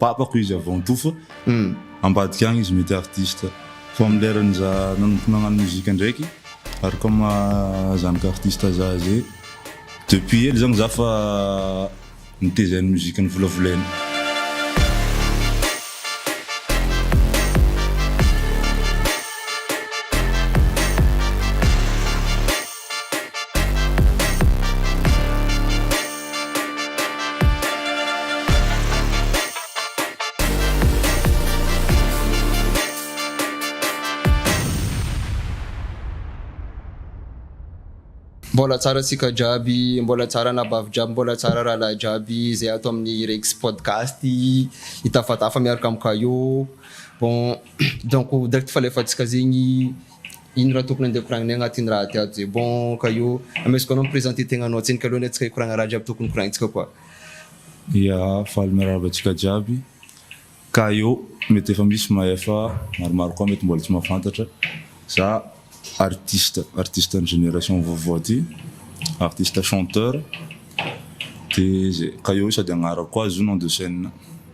Babako izy avy Antofa ambadika agny izy mety artiste fa am lerany za nanomboka nagnano musique ndraiky ary koa maha zanaky artiste za ze depuis hely zagny za fa mitezay ny musique ny volavolainy. Mbola tsara tsika jiaby, mbola tsara anabavy jiaby, mbola tsara rahalahy jiaby zay ato amin'ny Rex Podcast hitafatafa miaraka amin'i Kayo. Bon, donc direct falefantsika zegny Ino raha tokony andeha koragnina agnaty iny raha tiato zay bon ka io amesiko anao mi-presenter tegnanao tsiny ka aloha ny antsika hikoragna raha jiaby tokony koragnintsika koa. Ya, faly mirarahaba antsika jiaby. Ka io mety efa misy mahay fa maromaro koa mety mbola tsy mahafantatra. Za artiste, artiste ny génération vaovao ty, artiste chanteur de zay. Ka io sady agnarako koa izy io nom de scène.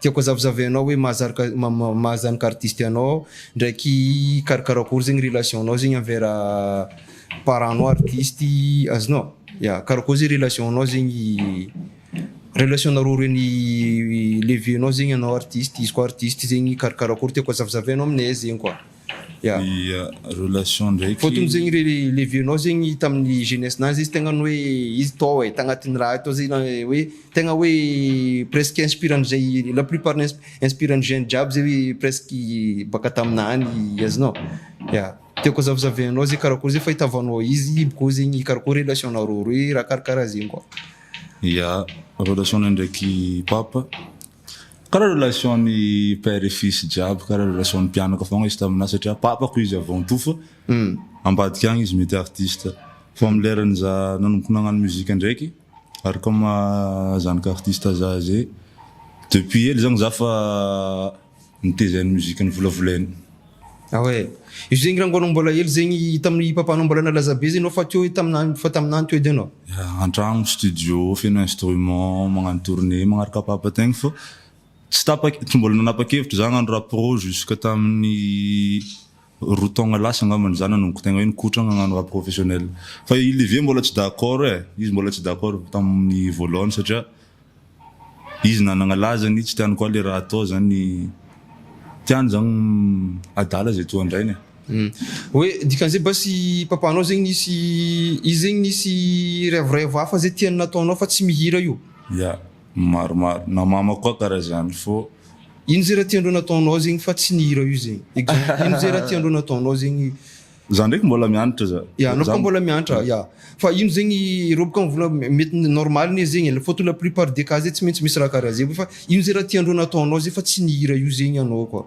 Tiako azavizavy anao hoe maha zanaka artiste anao aho ndraiky hikarakara akory zegny relation nao zegny envers parent nao artiste azonao? Ya karakory zegny relation nao zegny relation nareo roe ny levier nao zegny anao artiste izy koa artiste zegny hikarakara akory tiako azavizavy anao aminay zegny koa. dia relation ndraiky. Vao tonga zegny le vieux nao zegny tamin'ny jeunesse nazy izy tegna ny hoe izy tao e, tagnatin'ny raha tao zegny na hoe tegna hoe presque inspirant zay la plupart inspirant jeune jiaby zay hoe presque baka taminah any azonao? Ya, tiako hazavazavainao zay karakory zay fahitavanao izy bokao zegny karakory relation nareo roe raha karakaraha zegny koa. Ya, relation nay ndraiky papa Kara relation ny père et fils jiaby kara relation ny mpianaka fogna izy taminah satria papako izy avant tout fa ambadika agny izy mety artiste fa am lerany zah nanomboka nagnano musique ndraiky ary comme maha zanaka artiste zah zay depuis hely zagny zah fa Miteza ny musique ny volavolainy. Ah ouais. Io zegny rango anao mbola hely zegny tamin'ny papanao mbola nalaza be zegny anao fa teo taminany fa taminany teo edy anao. Yeah, antragno, studio, feno instrument, magnano tournée, magnaraka papa tegna fa tsy tapa- tsy mbola nanapa-kevitra za hagnano rap pro jusque tamin'ny roa taogna lasa angambany za nanomboka tegna hoe nikotragna agnano rap professionnel fa i Livia mbola tsy d'accord e, izy mbola tsy d'accord tamin'ny voalohany satria izy nanagna lazany tsy tiany koa le raha atao zany tiany zany adala zay toa andrainy e. Hoe dikan'izay basy papanao zegny nisy izy zegny nisy rêve rêve hafa zay tiany nataonao fa tsy mihira io? Ya. Maromaro na mama koa kara zany fô. Ino zay raha tiandreo nataonao zegny fa tsy nihira io zegny exemple ino zay raha tiandreo nataonao zegny. Za ndraiky mbola mianatra za. Ya anao koa mbola mianatra ya fa ino zegny reo bôka mivola mety normal ne zegny e fôtony la plupart des cas zay tsy maintsy misy raha kara zay fa ino zay raha tiandreo nataonao zay fa tsy nihira io zegny anao koa.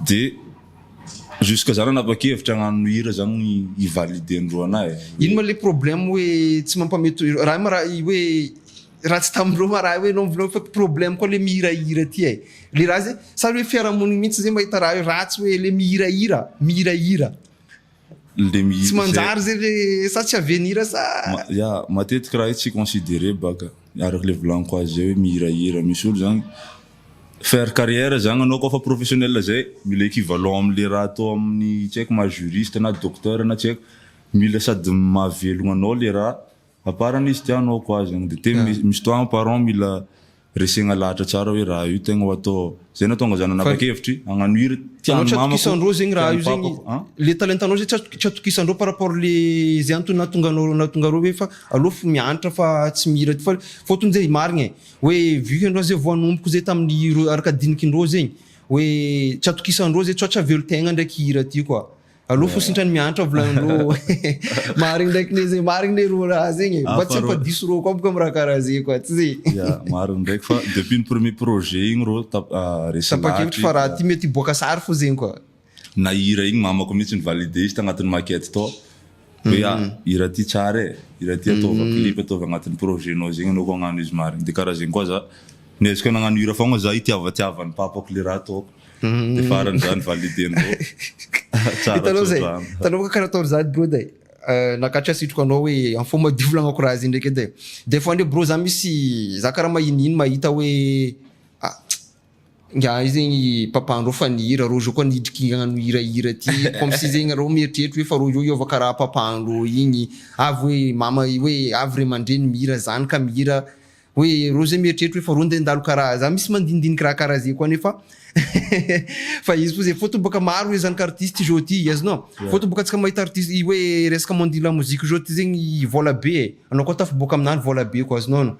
Dia jusque za nanapa-kevitra hagnano hira zany i valider ny roanahy e. Ino ma le problème hoe tsy mampameto raha ma raha hoe raha tsy tamin'ireo ma raha hoe enao mivolagna fa problème koa le mihirahira ty ai le raha zay sa le hoe fiarahamonigny mintsy zay mahita raha io raha tsy hoe le mihirahira mihirahira. tsy manjary zay ve sa tsy avenir sa. Ya matetika raha io tsy considerer baka araka le volagniko azy zay hoe mihirahira misy olo zany faire carrière zany anao koa fa professionnel zay mila equivalent am le raha atao aminy tsy haiko maha juriste na docteur na tsy haiko mila sady mahavelogna anao le raha A part an'izy ity hanao ko azy an! de te misy toa an parent mila resegna lahatra tsara hoe raha io tegna ho atao ao! zay natonga za nanapa-kevitry hagnano hira tian'ny mamako, tian'ny papako a! Le talentanao zay tsy atokisandreo par rapport le zay antony nahatonga anao nahatonga reo hoe fa aleo fo miantra fa tsy mihira ty fa fotony zay marigna e! hoe vu que ndreo zay vao hanomboka zay tamin'ny araka dinikin-dreo zegny hoe tsy atokisandreo zay sao tsy avelo tegna ndraiky hira ty koa! Alou fo sintrany miantra volany ro. Marigny ndraiky ne ze marigny ne ro raha zegny. Mba tsy fa diso ro koa boka am raha karaha ze koa tsy ze. Ya, marigny ndraiky fa depuis ny premier projet igny ro tap- ah, resy Tapa-kevitry fa raha ty mety hiboaka sary fo zegny koa. Na hira igny mamako mihitsy ni-valider izy tagnatin'ny maquette tao. Hoe ah hira ty tsara e, hira ty ataova clip ataova agnatin'ny projet nao zegny anao koa agnano izy marigny de karaha zegny koa za niezaka nagnano hira fogna za hitiavatiavan'i papako le raha ataoko de farany za ni valider ndreo tsara tsodrano. Hitanao ve karaha ataony zany brod e, nakatrika setroka anao hoe amfao madio volagnako raha zay ndraiky edy e, des fois ndray brô za misy za karaha mahinihiny mahita hoe ah. Ingahy zegny papa anareo fa nihira rô zao koa niditry kingana nohirahira ty comme si zegny nareo mieritreritra hoe fa rô zao hiova karaha papa anareo igny avy hoe mama hoe avy ray aman-dreny mihira zany ka mihira hoe rô zay mieritreritra hoe fa rô ndray ndalo karaha za misy mandinidiniky raha karaha zay koa nefa fa izy fô zay fôtony bôka maro hoe zanaky artiste izao ty azy nô Ie. fôtony bôka antsika mahita artiste i hoe resaka monde de la musique zao ty zegny vôla be e anao koa tafaboaka aminany vôla be koa azy nô.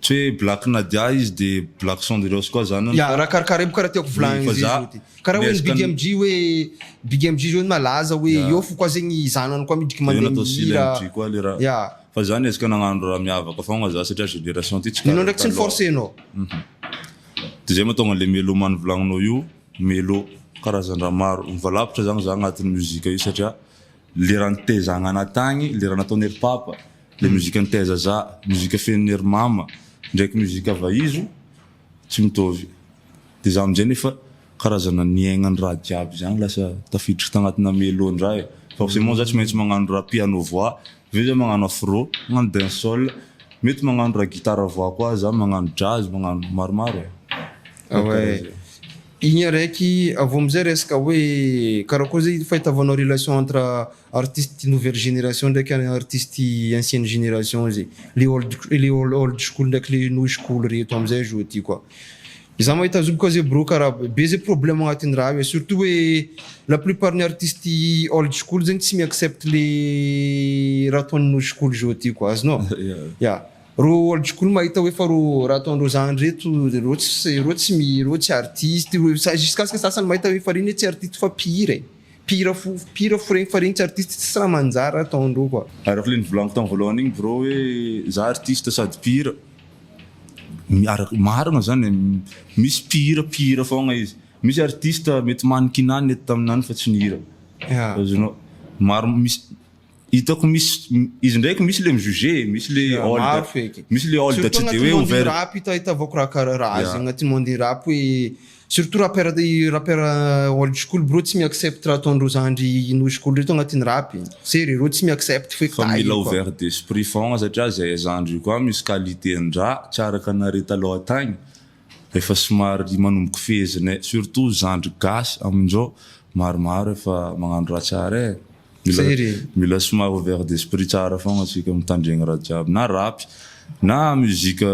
Tsy hoe Black Nadia izy de Black Cendrillous koa zany an. Ya, raha karakara io karaha tiako volagny izy zao ty. Karaha hoe ny Big MJ hoe Big MJ zao ny malaza hoe eo fo koa zegny zanany koa miditry mande mihira. Ya. Fa za niezaka nagnano raha miavaka fôgna za satria génération ty tsy karaha taloha. Nenao ndraiky tsy ni-forcer nao. De zay mahatonga anle melomane volagninao io melo karazandraha maro. Mivalapatra zany za agnatin'ny musique io satria Lera nitezangana tagny, lera nataony ry papa, le musique niteza za, musique fenony ry mama, ndraiky musique vaizo tsy mitovy, de za amizay nefa karazana niaigna ny raha jiaby zagny lasa tafiditry tagnatina melo ndray, forcement za tsy maintsy magnano raha piano voix, aveo za magnano afro, magnano dancehall, mety magnano raha guitare voix koa za, magnano jazz, magnano maromaro e, karaha zay. Igny araiky, avy eo amizay resaka hoe karakory zay fahitavanao relation entre artiste nouvelle génération ndraiky artiste ancienne génération zay, le old le old school ndraiky le new school reto amizay zao ty koa. Za mahita azy io bôka zay brô kara be zay problème agnatin'ny raha io e, surtout hoe la plupart ny artiste old school zegny tsy mi-accepte le raha ataon'ny new school zao ty koa, azonao? Ya. Ro old school mahita hoe fa ro raha ataondreo zany reto reo tsy reo tsy mi reo tsy artiste ro jusqu'à ce que sasany mahita hoe fa reny hoe tsy artiste fa mpihira e mpihira fo mpihira fo reny fa reny tsy artiste tsisy raha manjary ataondreo quoi. Araka le nivolaniko tam voalohany igny bro hoe za artiste sady mpihira araka marina zany e misy mpihira mpihira fogna izy misy artiste mety mannequinat ny eto taminany fa tsy nihira azonao maro misy Hitako misy izy ndraiky misy le mi-juger, misy le old, misy le old tsy de hoe ouvert. Surtout agnaty monde rap ito ahitavako raha karaha raha zegny agnaty monde rap hoe surtout rappeur rappeur old school brô tsy mi-accept raha ataondreo zandry new school reto agnatin'ny rap e! se rereo tsy mi-accept feky tahiny koa. Fa mila ouvert d'esprit fôgna satria zahay zandry io koa misy qualité-ndraha tsy araka anare talôha tagny efa somary manomboka fehezinay surtout zandry gasy aminjao maromaro efa magnano raha tsara e! Mila mila somary ouvert d'esprit tsara fogna tsika mitandregny raha jiaby na rapy na musique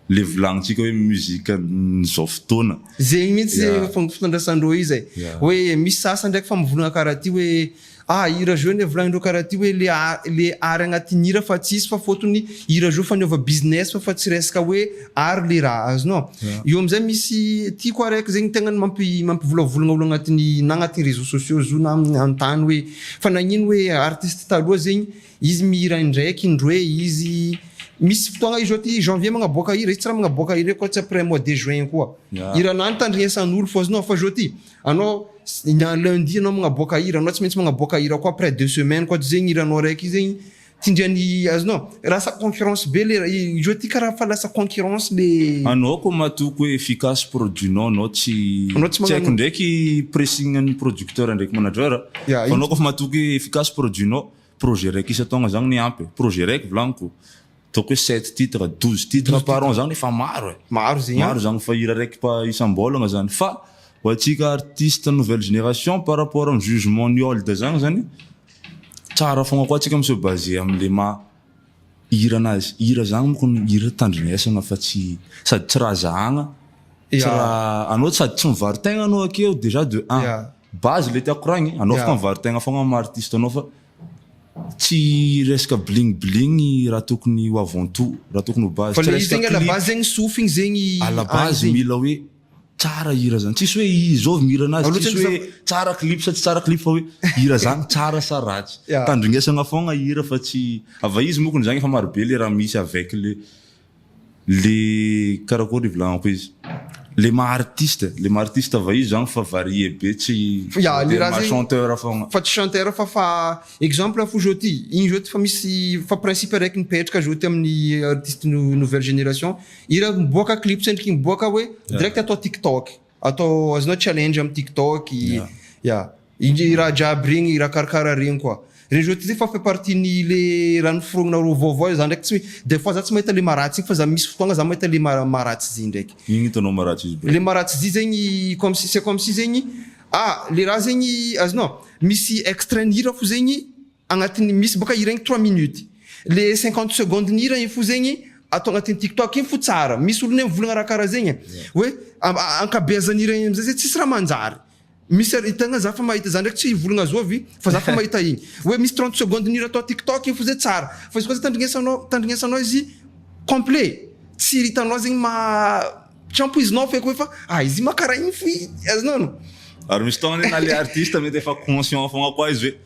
le volagnintsika hoe musique an'izao fotoana. Zegny mintsy ze Yeah. fomba fifandraisandreo io zay. Yeah. Hoe misy sasany ndraiky fa mivolagna karaha ty hoe ah hira zao ne volagnindreo karaha ty hoe le a- le art agnatin'ny hira fa tsisy fa fôtony hira zao fa niova business fa fa tsy resaka hoe Ary le raha azonao. Eo amizay misy tiako ary aiko zegny tegna mampivolavoligna olo agnatiny na agnatiny réseaux sociaux zio na anontany hoe fa nagnino hoe artiste taloha zegny izy mihira indraiky indroe izy misy fotoagna izy ôty janvier magnaboaka hira izy tsy raha magnaboaka hira eo koa tsy après mois de juin koa hiranao nitandrinesan'olo fa azonao fa zao ty anao lundi anao magnaboaka hira anao tsy maintsy magnaboaka hira koa après deux semaines koa tsy zegny hiranao araiky zegny Tsindrio ny azonao. Lasa concurrence be le jeu ty karaha fa lasa concurrence le. Anao ko matoa ko efficace produit nao anao tsy tsy haiko ndraiky pressing an'ny producteur ndraiky manager a fa anao kofa matoa ko efficace produit nao projet raiky isan-taogna zagny ny ampy e projet raiky volagniko ataoko hoe sept titres douze titres par an zagny efa maro e maro zegny maro zagny fa hira raiky pa isam-bôlagna zany fa ho antsika artiste nouvelle génération par rapport am jugement ny old zagny zany Tsara fogna koa tsika mi-se baser amle maha hira anazy. Hira zany moko ny hira tandremesana fa tsy sady tsy raha zahagna tsy raha anao sady tsy mivaro tegna anao akeo dejà de un base le tiako koragny e anao afaka mivaro tegna fogna am maha artiste anao fa tsy resaka bling bling raha tokony ho avant tout raha tokony ho base tsy resaka clip à la base mila hoe Tsara hira zany, tsisy hoe izao vao mihira anazy, tsisy hoe tsara clip sa tsy tsara clip fa hoe hira zany tsara sa ratsy. Tandringesagna fôgna hira fa tsy, ava izy mokony zagny efa maro be le raha misy avec le le karakôry ivolagnako izy, le maha artiste, le maha artiste ava izy zagny fa varié be tsy voatery maha chanteur fôgna. Fa tsy chanteur fa fa exemple fo zao ty, igny zao ty fa misy fa principe araiky mipetraka zao ty amin'ny artiste nouvelle génération, Hira miboaka clip tsy endriky miboaka hoe direct atao tiktok. Atao azonao challenge am tiktok. Ya. Iny raha jiaby regny, raha karakara regny koa. Regny je te dis fa fait partie ny le raha noforognanareo vaovao za ndraiky tsy des fois za tsy mahita le maharatsy igny fa za misy fotoagna za mahita le ma- maharatsy izy ndraiky. Ino hitanao maharatsy izy brô? Le maharatsy izy zegny comme si c'est comme si zegny ah le raha zegny azonao misy extrait ny hira fo zegny Agnatin'ny misy boka hira igny trois minutes. Le cinquante secondes ny hira igny fo zegny atao agnatin'ny tiktok igny fo tsara. Misy olona mivolagna raha karaha zegny hoe ankabeazan'ny hira igny amizay zegny tsisy raha manjary. Misy ary tegna za fa mahita za ndraiky tsy hivolagna zovy fa za fa mahita igny. Hoe misy trente secondes ny hira atao tiktok igny fo zay tsara. Fa izy koa zay tandrignesanao tandrignesanao izy complet tsy hitanao zegny maha tsy ampoizinao feky hoe fa ah izy maha karaha igny fo i azonao. Ary misy fotoagna na le artiste mety efa conscient fogna koa izy hoe.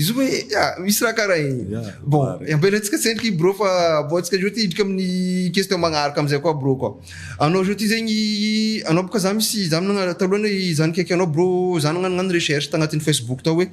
Izy hoe misy raha karaha igny. Yeah, bon, mare. ampianarintsika tsendriky bro fa aboahantsika zao ty hidrika amin'ny question magnaraka amizay koa bro koa. Anao zao ty zegny, anao boka za misy za nagna- taloha anie i- za nikaiky anao bro, za nagnano nagnano recherche tagnatin'ny Facebook tao hoe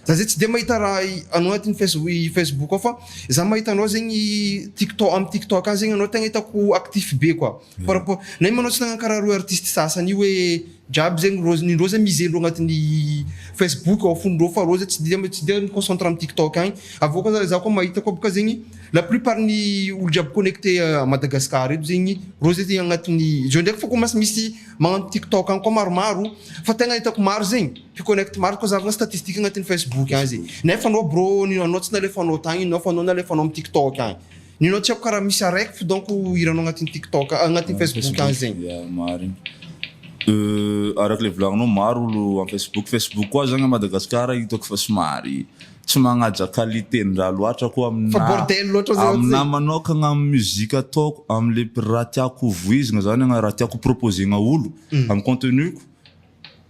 za zay tsy de mahita raha i- anao agnatin'ny face- i Facebook ao fa za mahita anao zegny TikTo- am TikTok any zegny anao tegna hitako actif be koa. Par rapport, nay manao tsy nagnankarary hoe artiste sasany io hoe jiaby zegny rô, ny ndrô zany miser ndrô agnatin'ny facebook ao fony ndrô fa rô zany tsy dia tsy dia mi concentre amin'ny tiktok agny, avy eo koa za za koa mahita koa bôka zegny la plus part ny olo jiaby connecte à Madagascar eto zegny rô zay zegny agnatin'ny zao ndraiky fô koa mas misy magnano tiktok agny koa maromaro fa tegna hitako maro zegny mpi connecte maro koa zahavina statistique agnatin'ny facebook agny zegny nefa anao brô ny anao tsy nalefanao tagny ino fa anao nalefanao am tiktok agny Nenao tsy aiko karaha misy araiky fo donc hiranao agnatin'ny tiktok agnatin'ny facebook any zegny. Ya marigny. Euh araka le volagninao maro olo am facebook, facebook koa zagny am Madagascar hitako fa somary tsy magnaja qualité ndraha loatra koa am Fa bordel loatra zay ohatsy zay. Aminahy manokagna am musique ataoko am le raha tiako ho vohizigna zany raha tiako ho proposer-gna olo am contenu-ko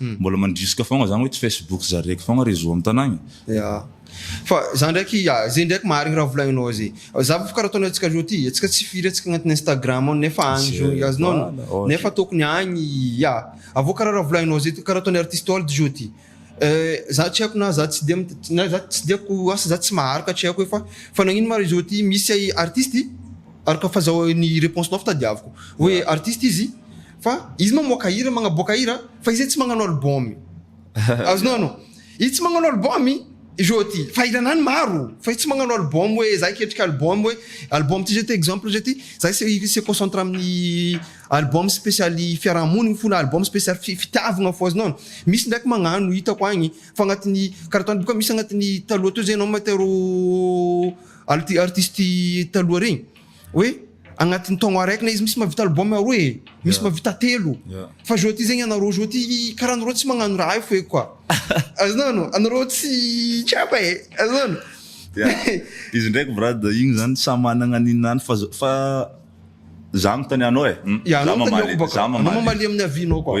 Mbola mandrisika fogna zany hoe tsy Facebook zare eky fogna réseau am tanagna e. Ya. Fa za ndraiky, ya ze ndraiky marigny raha volagninao ze. Za bôka karaha ataonao antsika zao ty, antsika tsy firy antsika agnatin'ny Instagram ao nefa agny zao i azy nona, nefa tokony agny i, ya. Avô karaha raha volagninao ze ty, karaha ataon'i artiste old zao ty, za tsy haiko na za tsy de, na za tsy de ko asa za tsy maharaka tsy haiko e fa, fa nagnino ma réseau ty misy artiste, araka fazahoan'ny réponse-nao fa tadiaviko, hoe artiste izy, fa izy mamoaka hira magnaboaka hira fa izy tsy magnano album azonao anao izy tsy magnano album joty fa hiranany maro fa izy tsy magnano album hoe za ketrika album hoe album ty zety exemple zety za se concentre amin'ny album spécialy fiarahamoniny fona album spécialy fitiavagna fo azonao anao misy ndraiky magnano hitako agny fa agnatin'ny karatany boka misy agnatin'ny taloha teo zay anao mahita rô artiste taloha regny hoe agnatin'ny taogno araiky na izy misy mahavita album aroa e, misy mahavita telo. Fa zao ty zegny anareo zao ty karaha anareo tsy magnano raha io feky koa. Azonao? Anareo tsy tsapa e. Azonao? Izy ndraiky brad igny zany samy managna ny nany fa fa za manontanianao e. Za mamaly. Za mamaly. Anao mamaly amin'ny avis-nao koa.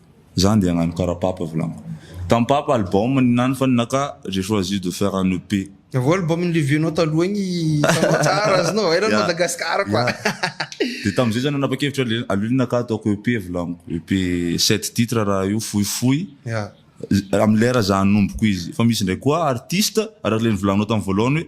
Zany dia agnano kara papa volaniko tam papa album ny nano fa ny naka j'ai choisi de faire un EP. Avy eo album ny Levy nao taloha igny hitanao tsara azonao va eran'ny Madagascar quoi. Dia tamin'izay zany nanapa-kevitra le aleo le naka ataoko EP volaniko EP sept titres raha io fohifohy amin'ny lera za hanomboko izy fa misy ndraiky koa artiste araka le nivolanao tam voalohany hoe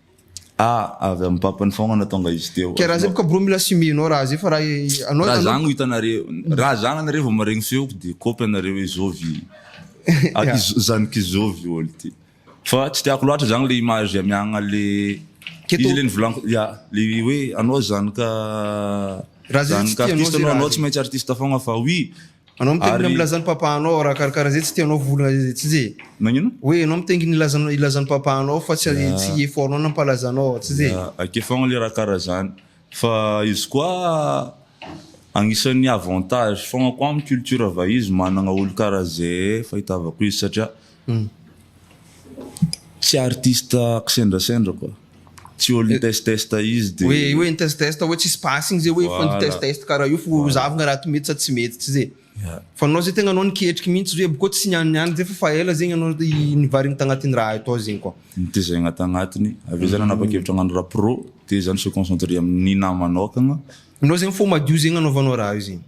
A, avy amin'ny Papany faogna natonga izy teo. Kay raha zay boka bro mila simihy nao raha zay fa raha anao Raha zany no hitanareo, raha zany anareo vao maregny feoko de kopy anareo hoe zovy zanak'i zovy ol ty. Fa tsy tiako loatra zany le image amiagna le izy le nivolaniko ya le hoe anao zanaka zanaka artiste anao, anao tsy maintsy artiste faogna fa oui Anao mitaingina Ary- milaza ny papanao raha karakara zay tsy tianao volana zay tsy zay. Nagnino? Hoe anao mitaingina ilaza ilaza ny papanao fa tsy Ya. tsy effortnao na ampalazanao tsy zay. Ah, Akeo foagna le raha karaha zany. Fa izy koa agnisan'ny avantage foagna koa amin'ny culture vahiny izy managna olo karaha zay fahitavako izy satria Tsy artiste kisendrasendra quoi. Tsy olo nitestest izy de. Hoe hoe nitestest hoe tsisy basy igny zay hoe efa nitestest karaha io fo zahavina raha to mety sa tsy mety tsy zay. Fa anao zay tegna anao niketriky mintsy zao hoe boko tsy niany niany zay fa fa ela zegny anao nivarina tagnatiny raha io tao zegny koa. Nitezegna tagnatiny aveo za nanapakevitra agnano raha pro de za ni se concentrer aminy namanao akagna. Anao zegny fo madio zegny anaovanao raha io zegny.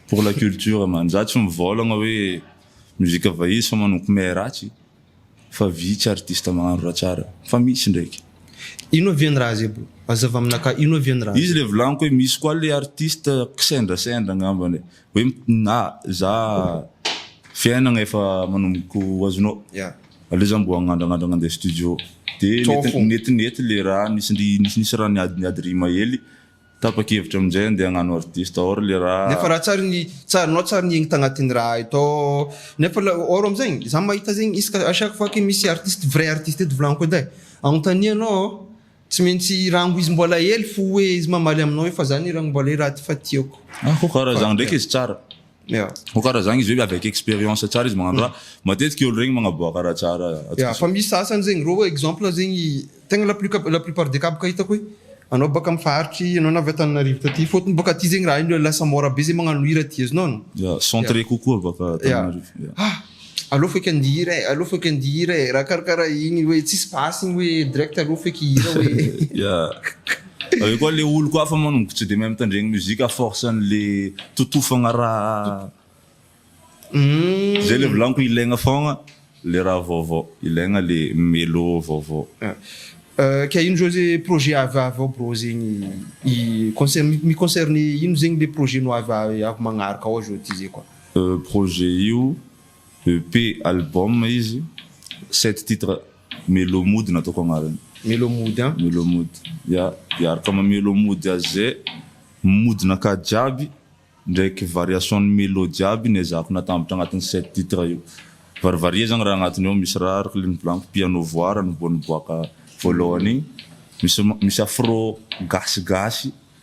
Pour la culture man. Za tsy mivaolagna hoe mozika vahiny sa manompo may ratsy fa vitsy artiste magnano raha tsara fa misy ndraiky. Ino avy ny raha zay bro? Hazava aminakahy ino avy ny raha zay? Izy le volagniko hoe misy koa le artiste kisendrasendra angambany e, hoe na za fiainagna efa manomboka ho azonao aleo za mbo agnandrangandragna andeha studio de netinety le raha nisy nisy raha niady niady rima hely Tapa-kevitra amin'izay handeha hagnano artiste or le raha. Nefa raha tsary ny tsarinao tsary ny egny tagnatin'ny raha eto nefa la or amin'izegny za mahita zegny isaka à chaque fois que misy artiste vrai artiste eto volagniko edy ai agnontanianao an tsy maintsy rango izy mbola hely fo hoe izy mamaly aminao hoe fa za anie rango mbola hely raha ty fa tiako. Ah kô kara zagny ndraiky izy tsara. Yeah. Ho karaha zagny izy hoe avec expérience tsara izy magnano raha. Matetiky olo regny magnaboaka raha tsara atsika Yeah, fa zao. misy sasany zegny reo hoe exemple zegny tegna la plus cab- la plupart des kaboka hitako hoe anao baka am faritry anao na avy Antananarivo taty fôtony bôka aty zegny raha io lasa môra be zegny magnano hira aty azonao Yeah, centré kokoa baka Yeah. Antananarivo. Yeah. Ah! Aleo feky andia hira eh, aleo feky andia hira eh, raha karakara iny hoe tsisy basy iny hoe direct aleo feky hira hoe. Yeah. Avy eo koa le oloko hafa manomboka tsy dia mahay mitandregny musique à force an'le totofagna raha Hum. Zay le volaniko ilaigna fôgna le raha vaovao, ilaigna le melo vaovao. Ah, ka ino zao ze projet avy avy ao brô zegny i concerne mi-concerne ino zegny le projet-nao avy avy magnaraka ao zao ty zay koa. Projet io EP album izy, sept titre melo mody no ataoko agnarany. Melo mody an? Melo mody ya, hiaraka am melo mody azy ze modin'aka jiaby ndraiky variation ny melo jiaby no ezahako natambatra agnatiny sept titre io, varivarie zany raha agnatiny ao, misy rare, clean blank, piano voix raha niboa niboaka voalohany igny, misy misy afro gasy gasy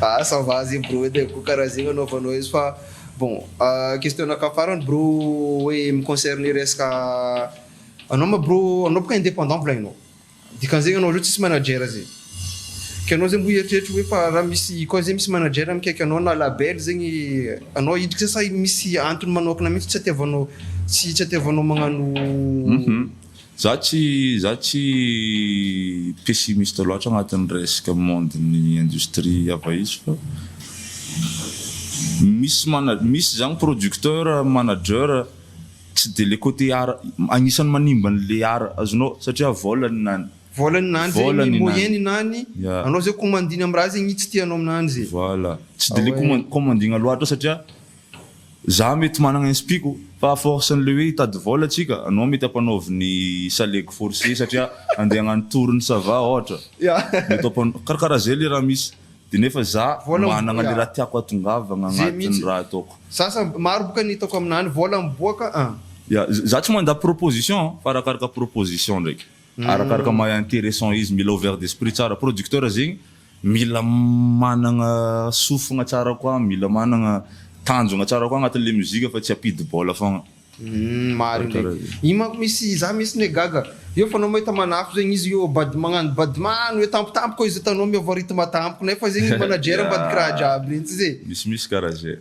Ah ça va zay bro edy ko karaha zegny anaovanao izy fa bon question naka farany bro hoe mi concerne resaka anao ma bro anao boka indépendant mbola enao dikan'izegny anao zao tsisy manager zay ke anao zay mbo hieritreritra hoe fa raha misy koa zay misy manager mikaiky anao na label zegny anao hiditra sa misy antony manokana mitsy tsy atiavanao tsy tsy atiavanao magnano Za tsy za tsy pessimiste loatra agnatin'ny resaka monde ny industrie ava izy fa misy mana misy zany producteur manager tsy de le cote art agnisan'ny manimba an'le art azonao satria vôlany nany vôlany nany zay ny moyenne nany anao zay commandina am'raha zegny tsy tianao aminany zay. Voilà tsy de le commandina loatra satria. Za mety managna inspiko fa à force an'le hoe hitady vôla tsika, anao mety ampanaovy ny salegy forcé satria andeha hagnano tour ny ça va ôhatra, mety ampanao karakaraha zay le raha misy, de nefa za managna le raha tiako hatongavagna agnatin'ny raha ataoko. Za sa maro boka ny hitako aminany, vôla miboaka an. Ya, za tsy mandà proposition fa arakaraka proposition ndraiky. Arakaraka maha interessant izy, mila ouvert d'esprit tsara, producteur zegny mila managna sofigna tsara koa, mila managna tanjogna tsara koa agnatin'le musique fa tsy ampidi bôla fôgna. Humm marigny regny. Io manko misy za mintsy ne gaga. Eo f'anao mahita manafo zegny izy io bad magnano badman hoe tampotampoka koa izy hitanao miôva rythme tampoka nefa zegny ny manager ambadik'i raha jiaby regny tsy zay? Misimisy karaha zay.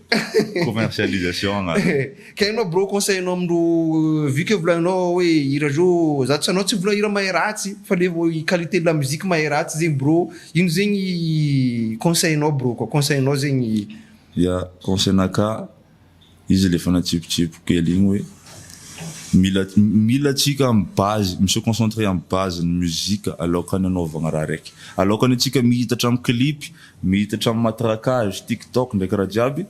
Commercialisation agnarany. Ka enao bro conseil anao amindro vu que volaninao oe hira zao za tsy anao tsy mivola hira mahay ratsy fa le vo i qualité la musique mahay ratsy zegny bro ino zegny conseil nao bro koa conseil nao zegny Ya conseil na ka izy le fanatsipotsipo kely igny oe mila mila atsika am base mi se concentrer am base ny musique aloka ny anaovagna raha raiky aloka ny atsika mihitatra am clip mihitatra am matraquage tiktok ndraiky raha jiaby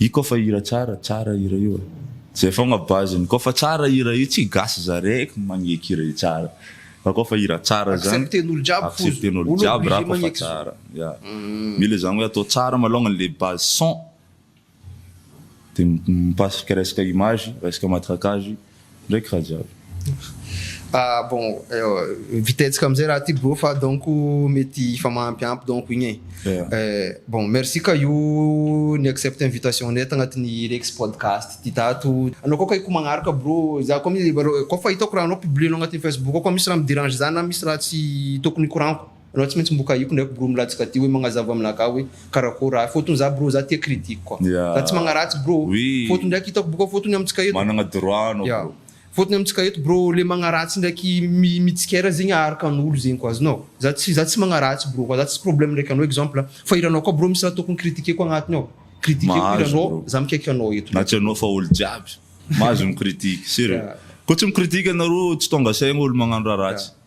Io koa fa hira tsara, tsara hira io e! Zay fogna base ny koa fa tsara hira io tsy gasy za reky magneky hira io tsara fa koa fa hira tsara zany accepten'olo jiaby foza accepten'olo jiaby ra koa fa tsara ya mila zany hoe atao tsara malongany le base son de mipasika resaka image resaka matraquage Ndraiky Rajab. Ah bon vita hetsika amizay raha ty bro fa donc mety hifamaampyampy donc igny e. Bon merci ka io ni accepte invitation nay tagnatiny Rex podcast ty tato. Anao koa kay ko magnaraka bro za koa mi koa fa hitako raha anao publier-nao agnatiny Facebook ao koa misy raha mi derange za na misy raha tsy tokony hikoragniko. Anao tsy maintsy mbo kahiko ndraiky bro mla tsy ka tia hoe magnazava amina ka hoe karakôry ahy fôtony za bro za tia critique koa za tsy magnaratsy bro fôtony ndraiky hitako boka fôtony amintsika eto managna droit anao bro fôtony amintsika eto bro le magnaratsy ndraiky mitsikera zegny aharikan'olo zegny koa azonao za tsy za tsy magnaratsy bro koa za tsisy problème ndraiky anao exemple fa hiranao koa bro misy raha tokony critiquer koa agnatiny ao critiqueko hiranao za mikaiky anao eto na tsy anao fa olo jiaby mahazo mi critique sérieux koa tsy mi critique anareo tsy tônga saigny olo magnano raha ratsy.